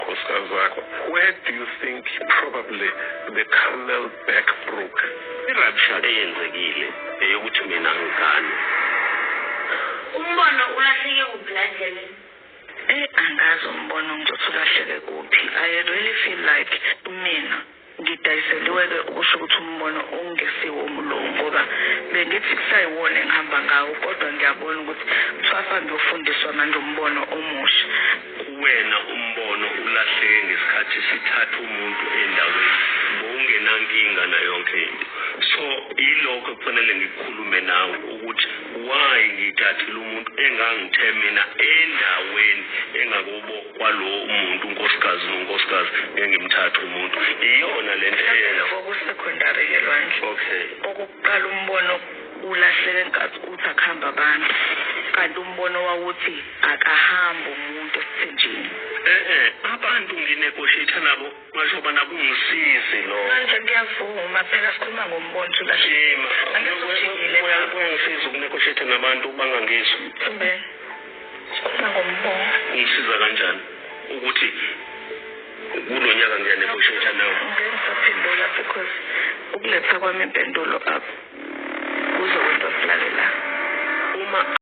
Nkosazana, where do you think probably the camel back broke? I-rapture eyenzekile eyokuthi mina ngizane. Umbono ulahleke kuphi la ndleleni? Eyi angazi umbono ngizothi ulahleke kuphi. I really feel like mina Ngidayiseliwe ke ukusho ukuthi umbono ungesiwomu lowo ngoba bengithi kusayiwona engihamba ngawo kodwa ngiyabona ukuthi kuthiwasa ngiyofundiswa manje umbono omusha. Kuwena umbono ulahleke ngesikhathi sithatha umuntu endaweni bowungenankinga nayonke into so yilokho ekufanele ngikhulume nawe ukuthi why ngithathile umuntu engangithe mina endaweni engakubo kwalo umuntu unkosikazi nonkosikazi ngeke ngimthathe umuntu iyona le nto Mhlawumbe eyenza lokho kusekhondari ke lwandle okay okokuqala umbono ulahleke nkathi uthi akuhamba abantu kanti umbono wawuthi akahambi umuntu esithenjini eh eh abantu nginegotiate nabo Ngasho bana kungisizi lo. Manje ngiyavuma phela sikhuluma ngombonto la. Shima. Angizojingile. Uyangisiza ukunegotiate nabantu bangangizwa. Mbe. Sikhuluma ngombonto. Ungisiza kanjani ukuthi kulonyaka ngiyanegotiate nawe? Ngisaphendula because ukuletha kwami impendulo up. Kuzokwento silalela. Uma